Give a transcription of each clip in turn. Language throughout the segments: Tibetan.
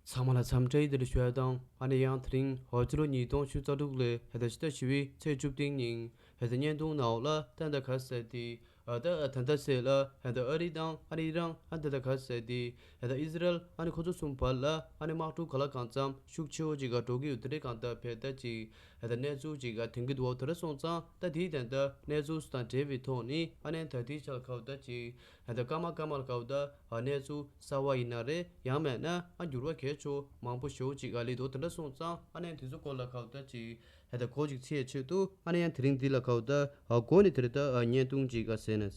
ཚང་མ་ལ་འཚམས་འདྲི་འདི་འདྲ་ཞུ་ཡག་དང་ཨ་ནེ་ཡང་དེ་རིང་ཧོར་རྩེ་རུ་ཉིས་སྟོང་ཆུ་རྩ་དྲུག་ལོའི་ཧེ་ད་ཕྱི་ཟླ་བཞི་བའི་ཚེས་བཅུ་བདུན་ཉིན་ཧེ་ད་བརྙན་ཐུང་ནའོ་ལ་ཏན་ད་ག་ཟེར་ཏེ་ཨ་ད་ཨ་ཐན་ད་ཟེར་ལ་ཧེ་ད་ཨ་རི་དང་ཨ་རི་རང་ཨན་ད་ད་ག་ཟེར་ཏེ་ཧེ་ད་ཨི་ཟི་རལ་ཨ་ནེ་ཁོ་ཚོ་གསུམ་བར་ལ་ཨ་ནེ་དམག་འཁྲུག་ག་ལ་གང་འཚམ་ཤུགས་ཆེ་བོ་ཅིག་ག་འགྲོ་གི་ཡོད་དེ་འདྲས་གང་ལྟར་ཕེ་ད་ཅིག་ཧེ་ད་གནས་ཚུལ་ཅིག་ག་དེང་གི་འོག་དེ་འདྲ་སོང་ཙང་ད་དེའི་དན་ད་གནས་ཚུལ་སུ་དང་འབྲེལ་བའི་ཐོག་ནས་ཨ་ནེ་ད་དེའི་ཆ་ལ་ཁ་བ་ད་ཅིག་ད་ལྟ་ཀརྨ་ཀརྨ་ལ་ཀའོ་ད་བར་གནས་ཚུལ་གསར་བ་ཡིན་ན་རེད་ཡང་མེད་ན་ཨ་འགྱུར་བ་གས་ཆོག་མང་པོ་ཞོག་ཅིག་ཨ་ལེ་དོ་དེ་འདྲ་སོང་ཙང་ཨ་ནེ་དེ་ཚོ་སྐོར་ལ་ཀའོ་ད་ཅིག་ད་ལྟ་གོ་ཅིག་ཚེས་ཕྱེད་དུ་ཨ་ནེ་ཡང་དེ་རིང་འདི་ལ་ཀའོ་ད་དགོས་ནི་དེ་རེད་ད་བརྙན་ཐུང་ཅིག་ཨ་ཟེར་ནས།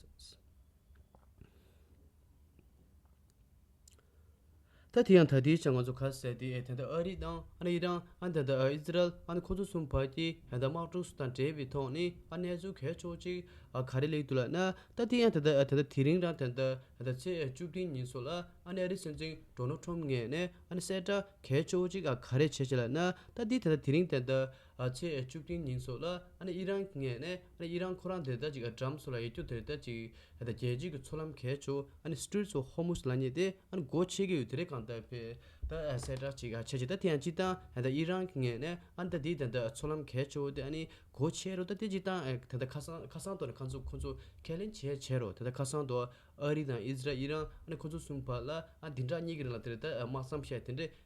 ད་དེ་ཡང་ད་ལྟའི་ཆར་ང་ཚོ་ཁ་གསལ་ཏེ་དེ་ལྟར་ཨ་རི་དང་ཨ་ཡེ་རང་ཨ་ད་ལྟ་ཨ་ཨི་ཛི་རལ་ཨ་ཁོ་ཚོ་གསུམ་བར་གྱི་ཡང་དག་དམག་གྲོགས་སུ་དང་འབྲེལ་བའི་ཐོག་ནས་ཨ་གནས་ཚུལ་གལ་ཆོག་ཅིག་ཨ་ག་རེ་ལེགས་འདུག་ལགས་ན་ད་དེ་ཡང་ད་ད་ད་ད་དེ་རིང་རང་ད་ད་ད་ད་ཚེས་བཅུ་བདུན་ཉིན་སོགས་ལ་ཨ་ནས་ཨ་རི་སྲིད་འཛིན་གྲོ་ནོ་ཁྲོམ་ངས་ནས་ཨ་ནས་གསལ་བསྒྲགས་གལ་ཆོག་ཅིག་ཨ་ག་རེ་བྱས་བྱས་ལགས་ན་ད་དེ་ད་ད་དེ་རིང་ད་ད་ཚེས་བཅུ་བདུན་ཉིན་སོགས་ལ་ཨི་རན་གྱི་ངས་ཨི་རན་ཁོ་རང་དེ་ལྟར་ཅིག་ཏྲམ་སོགས་ལ་ཡིད་སྐྱོ་དེ་ལྟར་ཅིག་རྒྱལ་སྤྱིའི་གི་ཚོགས་ལམ་གས་ཆོ Strait of Hormuz ལ་ཉེ་སྟེ་སྒོ་ཕྱེ་གི་ཡོད་དེ་རེད་གང་ལྟར་བེ་ད་གསལ་བསྒྲགས་ཅིག་བྱས་ཅིག་ད་དེ་ཡང་ཅིག་ད་ཨི་རན་གྱི་ངས་ཨ་ནི་ད་དེའི་ད་ད་ཚོགས་ལམ་གས་ཆོ་དེ་ཨ་ནི་སྒོ་ཕྱེ་རོ་ད་དེ་ཅིག་ད་ད་ད་ཁ་སང་ཁ་སང་དོ་ནས་ཁ་ཚུགས་ཁོ་ཚོ་ཁས་ལེན་བྱས་བྱས་རོ་དེ་ད་ཁ་སང་དོ་ཨ་རི་དང་ཨི་ཛི་ར་ཨི་རན་ཨ་ནི་ཁོ་ཚོ་གསུམ་བར་ལ་ཨ་དེ་འདྲ་གཉིས་ཀྱི་རིང་ལ་དེ་རེད་ད་དམག་མཚམས་བཤད་དེ་འདྲས་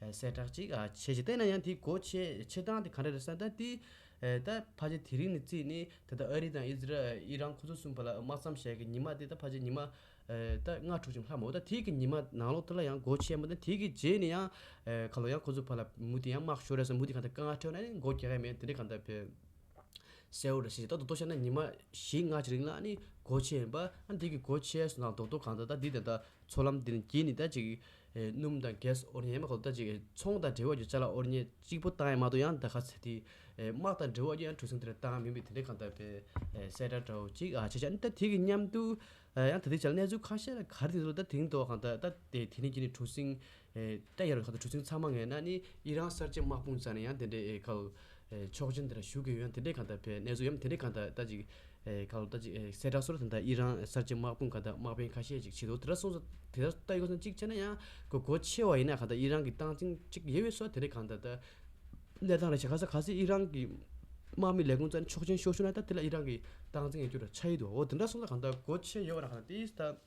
གསལ་བསྒྲགས་གཅིག་བྱས་ཞེས་བལྟས་ན་ཡང་དེའི་གོ་ཆའི་ཆེ་ཐང་དེ་ག་འདྲ་རེད་བསམ་ད་དེའི་ད་ཕ་ཆེ་དེ་རིང་ནས་བརྩིས་ནས་ད་ལྟ་ཨ་རི་དང་ཨིས་ར་ཨིརང་ཁོ་ཚོ་གསུམ་བར་ལ་དམག་མཚམས་བཞག་གི་ཉི་མ་དེ་ད་ཕ་ཆེ་ཉི་མ་ད་ལྔ་དྲུག་ཅིག་ལྷག་མ་འོ་ད་དེའི་གི་ཉི་མ་ནང་ལོགས་དེ་ལ་ཡང་གོ་ཆའི་མ་ད་དེའི་གི་རྗེས་ནས་ཡང་ག་ལོགས་ཡང་ཁོ་ཚོ་བར་ལ་མུ་ཏིག་ཡང་དམག་ཤོར་རེད་བསམ་མུ་ཏིག་ག་འདྲ་དཀའ་ངལ་ཁྲོད་ན་ནི་མགོ་རྒྱག་ཡ་མེད་དེ་འདྲའི་ག་འདྲ་བེད་གསལ་བོ་རེད་བྱས་རྗེས་ད་དོག་དོག་བྱས་ན་ཉི་མ་བཞི་ལྔ་ཅིག་རིང་ལ་ནི་གོ་ཆའི་མ་ད་དེའི་གི་གོ་ཆའི་ནང་དོག་དོག་ག་འདྲ་ད་འདི་དང་ད་མཚོ་ལམ་འདིར་འགྱིག་ནི་ད་ཅིག། སྣུམ་དང་གས་ཨོར་ཉའི་དམག་ལ་ད་ཅིག། ཚོང་དང་འབྲེལ་བ་ཡོད་ཚད་ལ་ཨོར་ཉའི་གཅིག་པོ་ཏང་ཡང་མ་ཏོ་ཡང་ད་ག་ཚད་དེ། དམག་དང་འབྲེལ་བ་ཡོད་ཡང་གྲུ་གཟིངས་དེར་ཏང་མིན་པའི་དེ་འདྲའི་གང་ལྟར་དེ། གསལ་བསྒྲགས་འདྲ་བོ་ཅིག་ཨ་བྱས་བྱས་ད་དེ་གི་མཉམ་དུ། ཡང་ད་དེ་བྱས་ལ་གནས་ཚུལ་ཁ་ཤས་ལ་ག་རེ་དེ་འདུག་ད་དེ་རིང་དུ་བ་གང་ལྟར་ད་དེ་དེ་ནི་འགྱིག་ནི་གྲུ་གཟིངས། ད་ཡར་ཁ་ཏུ་གྲུ་ཆེན་ཚང་མ་ངས་ན་ནི་ཡི་རང་གསར་བརྗེ་དམག་དཔུང་བཙལ་ན་ཡང་དེ་འདྲའི་ཨེ་ཁ་ལོ། ཆོག་མཆན་དེ་འདྲ་ཞུ་དགོས་ཡོད་ན་དེ་འདྲས་གང་ལྟར་བེད་གནས་བཟོ་ཡོད་ན་དེ་འདྲས་གང་ལྟར་ལྟ་ཅིག། ཨེ་ཁ་ལོ་ལྟ་ཅིག་གསལ་བསྒྲགས་སོགས་ལ་དེ་འདྲ་ཡི་རང་གསར་བརྗེ་དམག་དཔུང་གང་ལྟར་དམག་དཔོན་ཁ་ཤས་ཅིག་བྱེད་དོ་དེ་འདྲ་སོང་ཙང་དེ་ལྟར་ལྟ་ཡོད་ན་ཅིག་བྱས་ན་ཡང་གོ་གོ་ཆེ་བ་ཡིན་ན་གང་ལྟར་ཡི་རང་གི་སྟངས་འཛིན་ཅིག་ཡེ་ཡོད་སོགས་དེ་འདྲས་གང་ལྟར་ལྟ། གནས་སྟངས་རེ་བྱས་ག་ས་ག་སེ་ཡི་རང་གི་དམག་མི་ལས་ཁུངས་བཙལ་ནས་ཆོག་མཆན་ཤོར་ཤོར་ན་ད་དེ་ལ་ཡི་རང་གི་སྟངས་འཛིན་ཡོད་རྒྱུ་ར་ཆ་ཡི་འདུག་འོ་དེ་འདྲ་སོང་ཙང་གང་ལྟར་གོ་ཆེ་ཡོད་བ་ར་གང་ལྟར་དེའི་སྟངས།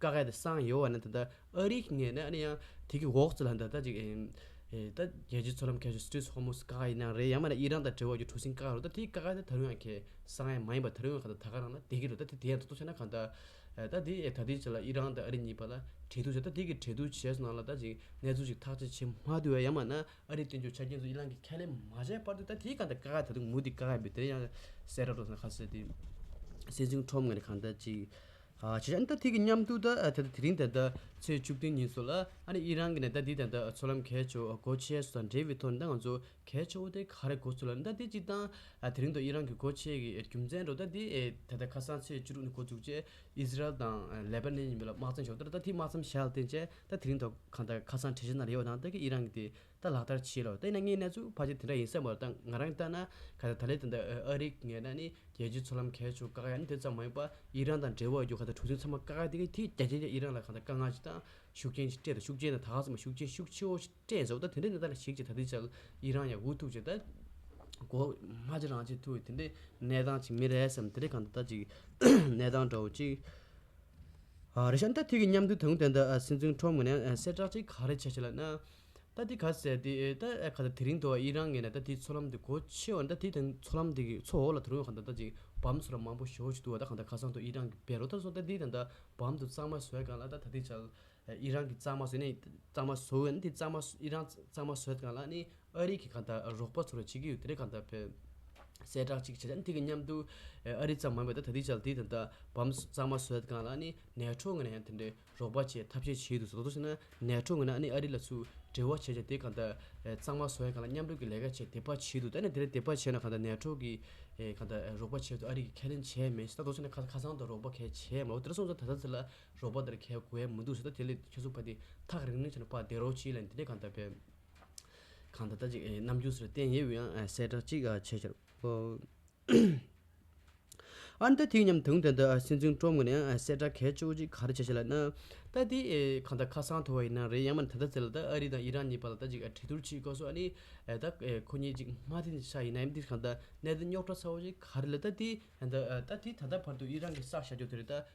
ཀ་ཁ་དེ་སངས་ཡོ་བ་ནི་ད་ལྟ་ཨ་རིའི་ངས་ནི་ཨ་ནི་ཡང་དེ་གི་འོག་ཚུད་ལ་འདི་ལྟ་ཅིག་ཨེ་ད་རྒྱལ་སྤྱིའི་ཚོགས་ལམ་གལ་སྲིད་སྤྲེལ་ཧོར་མོ་སི་ཀ་ཁ་ཡིན་ན་ཡང་རེད་ཡང་མ་ད་ཨི་རན་དང་འབྲེལ་བ་ཡོད་གྲུ་གཟིངས་ཀ་ཁ་རུ་ད་དེའི་ཀ་ཁ་དེ་ད་རུང་ཡང་གལ་སངས་ཡས་མ་ཡིན་པ་ད་རུང་ཡང་ག་ད་ད་ག་རང་ན་དེ་གི་རུ་ད་དེ་དེ་ཡང་ད་དུང་བྱས་ན་གང་ད་ད་དེ་ཨེ་ད་དེ་བྱས་ལ་ཨི་རན་དང་ཨ་རི་གཉིས་བར་ལ་འབྲེལ་ཐུག་བྱས་ད་དེ་གི་འབྲེལ་ཐུག་བྱས་སུ་ནང་ལ་ད་ཅིག་གནས་ཚུལ་ཅིག་ཐག་གཅད་བྱེད་མ་དུས་བས་ཡང་མ་ན་ཨ་རིའི་བསྟན་བཅོས་ཆ་རྐྱེན་ཚོ་ཨི་རན་གི་ཁས་ལེན་མ་བྱས་བར་དུ་ད་དེའི་གང་ད་ཀ་ཁ་ད་དུང་མུ་ཏིག་ཀ་ཁ་ཡིན་པས་དེ་ཡང་གསལ་རབ་རྟོགས་ཟིན་ཁ་གསལ་དེ། སེམས་ཅུང་ཁྲོམ་ངར་གང་ད་ཅིག། བྱས། ཨ་ནི་ད་ཐེངས་ཀྱི་མཉམ་འདུག་དེ་དེ་རིང་ད་ལྟ་ཚེས་བཅུ་བདུན་ཉིན་སོང་ལ། ཨ་ནི་ཨི་རན་གྱི་ནས་ད་དེ་ད་ལྟ་ཚོགས་ལམ་གས་ཆོག་གོ་ཆས་སུ་དང་འབྲེལ་བའི་ཐོག་ནས་ད་ང་ཚོ་གས་ཆོག་དེ་ག་རེ་གོ་ཚུལ་ལ་ནི་ད་དེ་གཅིག་དང། དེ་རིང་དུ་ཨི་རན་གྱི་གོ་ཆས་ཀྱི་རྒྱུ་མཚན་རོགས་ད་དེ་ད་ལྟ་ཁ་སང་ཚེས་བཅུ་དྲུག་ནས་གོ་བཅུག་རྗེས་ཨི་ཟི་རལ་དང་ལེ་པཱ་ནན་གཉིས་མི་ལ་དམག་བཙན་བཞག་ད་ད་དེ་དམག་མཚམས་བཞག་ལ་བརྟེན་བྱས། ད་དེ་རིང་ད་ག་ད་ཁ་སང་གྲལ་བཤེར་གནང་རེ་ཡོད་དང་ད་གིས་ཨི་རན་གྱི་དེ་ད་ལག་བསྟར་བྱེད་རོགས་ལྟས་ན་ངའི་ན་ཟུག་ཕ་ཆེ་དེ་འདྲ་ཡིན་ས་མ་རེད་ད་ང་རང་ལྟ་ན་ག་ད་ད་ལེ་དེ་འདྲ་ཨ་རིག་ངེད་ན་ནི་རྒྱལ་སྤྱིའི་ཚོགས་ལམ་གས་ཆོག་ཀ་ཡ་ནི་དེ་ཙམ་མ་ཡིན་པ་ཨི་རན་དང་འབྲེལ་བ་རྒྱུ་ག་ད་གྲུ་ཆེན་ཚང་མ་ཀ་ཀ་དེ་གི་དེ་རྒྱ་ཆེན་ཆེ་ཨི་རན་ལ་ག་ད་དཀའ་ངལ་ཆེ་དང་ཤུགས་རྐྱེན་ཆེ་སྤྲད་ད་ཤུགས་རྐྱེན་ད་ད་ག་ས་མ་ཤུགས་རྐྱེན་ཤུགས་ཆེ་བོ་ཞིག་སྤྲད་ཟོ་ད་དེ་འདྲ་ནི་ད་ལ་ཞིག་ཅེ་ད་དེ་ཆ་ཨི་རན་ཡང་འུ་ཐུག་ཅེ་ད་གོ་མ་ཅེ་རང་ཅེ་ཐུག་ཡི་དེ་འདྲའི་གནས་སྟངས་ཅིག་མི་རེད་བསམ་དེ་འདྲའི་ག་ད་ད་ཅིག་གནས་སྟངས་འདྲ་བོ་ཅིག་རེད་བྱ་ད་ཐིག་གི་མཉམ་འདུས་དང་དེ་འདྲ་སེམས་ཅུང་ཁྲོམ་ངོ་ནས་གསལ་བསྒྲགས་ཅིག་ག་རེ་བྱེད་བྱེད་ལ་ན། ད་དེ་ག་ཟེ་དེ་ད་ཨེ་ག་ད་དེ་རིང་དུ་ཨི་རང་ངེ་ན་ད་དེའི་ཚོགས་ལམ་དེ་གོ་ཆེ་བ་ན་ད་དེ་དང་ཚོགས་ལམ་དེ་གི་ཚོགས་འོག་ལ་དུ་རུང་ག་ད་ད་ཅིག་བམ་ཚོ་ལ་མང་པོ་ཞོ་ཅིག་འདུག་ད་ག་ད་ཁ་སང་དུ་ཨི་རང་གི་བེ་རོ་ད་སོ་ད་དེ་དང་ད་བམ་དུ་གཙང་མ་བཟོས་གང་ལ་ད་ད་དེ་བྱ་ཨི་རང་གི་གཙང་མ་བཟོས་ནས་གཙང་མ་བཟོ་འི་ན་དེ་གཙང་མ་ཨི་རང་གཙང་མ་བཟོས་གང་ལ་ནི་ཨ་རི་གི་ག་ད་རོགས་པ་ཚོ་ར་བྱེད་ཀི་ཡོད་དེ་རེ་ག་ད་བེ་གསལ་བསྒྲགས་ཅིག་བྱེད་ད་ནི་དེ་གི་མཉམ་དུ་ཨ་རི་ཙམ་མང་བས་ད་ད་དེ་བྱ་དེ་དང་ད་བམ་གཙང་མ་བཟོས་གང་ལ་ནི་ནས་ཁྲོ་ངེ་ན་ཡང་དེ་འདྲའི་རོགས་པ་བཅས་ཐབས་ཤེས་བྱས་འདུག་ཟོག་རྫོང་ཕྱི་ནང་ནས་འཕྲོ་ངོས་ན་ཨ་ནེ་ཨ་རི་ལ་ཚུར་འབྲེལ་བ་བྱས་རྗེས་དེ་གང་ལྟར་གཙང་མ་བཟོ་ཡ་གང་ལ་མཉམ་རུབ་ཀྱི་ལས་ཀ་བྱས་དེ་པ་བྱས་འདུག་ད་ནི་དེར་དེ་པ་བྱས་ན་གང་ལྟར་ནས་འཕྲོ་གི་གང་ལྟར་རོགས་པ་བྱས་འདུག་ཨ་རི་གིས་ཁས་ལེན་བྱས་མེད་ཟོག་རྫོང་ཕྱི་ནང་ཁ་ཁ་ཚང་དུ་རོགས་པ་གལ་ཆེ་མང་བོ་དེར་སོང་ཙང་ད་ལྟ་འདི་ལ་རོགས་པ་དེར་གལ་དགོས་མི་འདུག་ཟེར་ད་དེ་ལས་ཁྱོད་ཚོ་པ་འདི་ཐག་རིང་རིང་བྱས་ན་པ་བསྡད་རོགས་ཅིག་ལན་དེ་འདྲས་གང་ལྟར་བས། གང་ལྟར་ད་ཅིག་ནམ་རྒྱུན་ཟེར་བསྟན་ཡས་འུ་ཡང་གསལ་བསྒྲགས་ཅིག་བྱས་ཤོག། ཨ་ནནྟ་དེའི་ཉམས་དང་ལྡན་ད་སེམས་ཅུང་སྤྲོ་མོ་ནས་གསལ་སྒྲ་གལ་ཆེ་བོ་གཅིག་ག་རེ་བྱེད་བྱེད་ལ་ཨ་ནནྟ་དེ་གང་ལྟར་ཁ་སང་ཐོ་བ་ཡིན་ན་རེད་ཡང་མིན་ད་ལྟ་ཟེར་ལ་ད་ཨ་རི་དང་ཨི་རན་གཉིས་བར་ལ་ད་ཅིག་གྲོས་བསྡུར་བྱེད་དགོས་སོ་ཨ་ནི་ད་ཁོ་གཉིས་ཅིག་མ་དེ་ནས་ཤ་ཡིན་ན་ཡང་འདིར་གང་ལྟར་གནད་དོན་རྙོག་དྲ་ཚ་བོ་གཅིག་ག་རེ་ལ་ད་དེ་ད་ལྟ་དེ་ད་ལྟ་བར་དུ་ཨི་རན་གྱི་བསགས་བཞག་རྒྱུ་དེ་རེད་ད།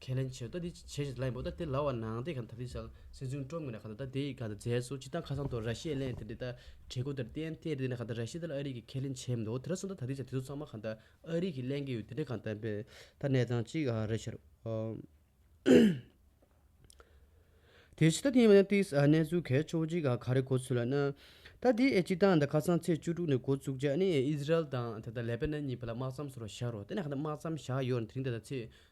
ཁས་ལེན་བྱེད་ད་དེ་བྱེད་བྱེད་ལ་ཡིན་པོ་ད་དེ་ལ་བ་ནང་དེ་ག་ད་དེ་ས་སེ་ཟུང་ཀྲོམ་གི་ན་ག་ད་ད་དེ་ཡི་ག་ད་རྫས་སུ་ཅི་ད་ཁ་སང་དུ་ར་ཤེས་གླེན་དེ་དེ་ད་བྲེ་གུ་དེར་བསྟན་དེ་དེ་ན་ག་ད་ར་ཤེས་ད་ལ་ཨ་རིག་གི་ཁས་ལེན་བྱེད་མི་འདུག་དེ་ར་སུ་ད་ད་དེ་བྱ་དེ་ཚོ་ཚང་མ་ག་ད་ཨ་རིག་གི་གླེན་གི་ཡོད་དེ་དེ་ག་ད་བེ་ད་གནས་ཚང་གཅིག་ག་རེད་ཤར་དེ་བྱེད་ད་དེ་ཡིན་པ་ན་དེ་ས་གནས་ཚུལ་གས་ཆོག་གཅིག་ག་ག་རེད་གོ་ཚུལ་ལ་ན་ད་དེ་ཨེ་ཅི་ད་ད་ཁ་སང་ཚེས་བཅུ་དྲུག་ནས་གོ་བཙུགས་ཅག་ནི་ཨིས་རལ་དང་དེ་ད་ལེ་པེ་ན་གཉིས་བེ་ལ་དམག་མཚམས་སུ་རོ་ཤར་རོ་དེ་ན་ག་ད་དམག་མཚམས་བཞག་ཡོད་ར་དེ་རིང་ད་ད་ཚེས་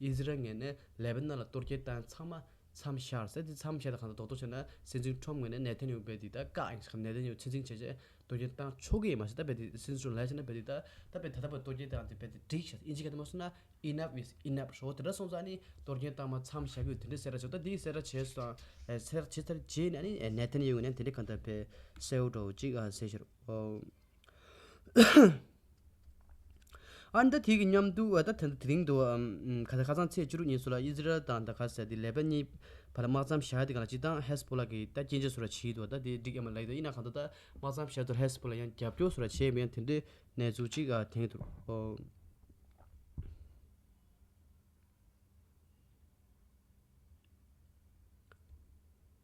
ཨིས་རལ་ངེས་ནས་ལེ་བྷ་ནཱན་ལ་གཏོར་སྐྱེལ་བཏང་ཚང་མ་མཚམས་བཞག་ཟེར་དེ་མཚམས་བཞག་དང་གང་ཐད་རྡོག་ཐོ་བྱས་ན་སྲིད་འཛིན་ཁྲོམ་ངོས་ནས་ནེ་ཐན་ཡོ་བེ་དེ་ད་བཀག་ཨིན་ཞེས་ནེ་ཐན་ཡོ་ཚིག་འཛིན་བྱས་རྗེས་གཏོར་སྐྱེལ་བཏང་ཆོག་གི་ཡིན་མ་ཟད་ད་བེ་དེ་སྲིད་འཛིན་ལ་ལས་བྱས་ན་བེ་དེ་ད་ད་བེ་ད་ལྟ་བུ་གཏོར་སྐྱེལ་བཏང་སྟེ་བེ་དེ་འགྲིག་ཞེས་ཨིན་ཇི་ག་དེ་མ་གསུངས་ན Enough is Enough ཞོག་དེ་འདྲ་སོང་ཙང་ནི་གཏོར་སྐྱེལ་བཏང་མ་མཚམས་བཞག་གི་དེ་འདྲའི་གསལ་བསྒྲགས་བྱས་ད་དེའི་གསལ་བསྒྲགས་བྱས་སོང་བསལ་བསྒྲགས་བྱས་ཚར་རྗེས་ནས་ནི་ནེ་ཐན་ཡོ་ངོས་ནས་དེ་འདྲའི་གང་ཐད་བེ་སེལ་འགྲོ་ཅིག་ཨ་ཟེར་ཞོར་ཨར་མདའ་དེ་གི་མཉམ་དུ་ཨར་མདའ་དེ་དེ་རིང་དུ་ཁ་སང་ཚེས་བཅུ་དྲུག་ཉིན་སུ་ལ་ཨི་ཟི་རལ་དང་ད་གྷ་སའི་ལས་བེད་གཉིས་བར་དམག་མཚམས་བཞག་དེ་གང་ལ་སྤྱི་བཏང་ཧེས་པོ་ལ་གི་ད་སྐྱེ་མཆེད་སུ་ར་བྱིས་དུ་ད་དེ་འགྲིག་ཨེ་མ་ལ་ཡིན་དུ་ཨི་ན་གང་དུ་ད་དམག་མཚམས་བཞག་དུ་ཧེས་པོ་ལ་ཡང་རྒྱབ་སྐྱོར་སུ་ར་བྱེད་མི་ཡང་དེ་འདྲའི་གནས་ཚུལ་གཅིག་དེང་དུ་ཨོ།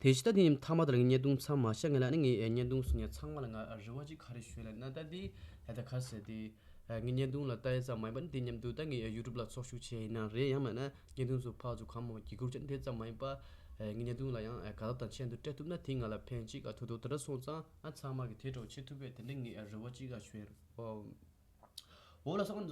དེ་ཕྱི་ལྟ་དེ་ནི་ཐ་མ་དང་ལ་ངའི་བརྙན་ཐུང་ཚང་མ་ཤ་ངེས་ལ་ནི་ངའི་བརྙན་ཐུང་སུ་ཉན་ཚང་མ་ལ་ང་རེ་བ་ཅི་ག་རེ་ཞུས་ལ་ནི་ད་ལྟ་འདི་ལ་ད་ག་ཟེར་ཏེ། ངའི་བརྙན་ཐུང་ལ་ལྟ་ཡས་ཙམ་མ་ཡིན་པ་ནི་དེ་སྙམ་དུ་ད་ངས་ཡུ་ཏུབ་ལ་ཚོགས་ཞུགས་བྱས་ཡིན་ན་རེད་ཡང་མེད་ན་བརྙན་ཐུང་སུ་ཕག་ཚོ་གང་མང་བ་གི་གུར་ཆ་ནི་དེ་ཙམ་མ་ཡིན་པ། ངའི་བརྙན་ཐུང་ལ་ཡང་ག་ལ་དང་ཆད་འདུག་སྤྲད་ཐུབ་ན་དེ་ང་ལ་ཕན་ཅི་ག་ཐུག་འདུག་དེ་འདྲ་སོང་ཙང་ང་ཚང་མ་གི་དེ་གྲོགས་བྱེད་ཐུབ་པས་དེ་འདྲ་ངས་རེ་བ་ཅི་ག་བྱོས། འོ་ལ་ས་ག་ནས་འཛོམས་ཡོད།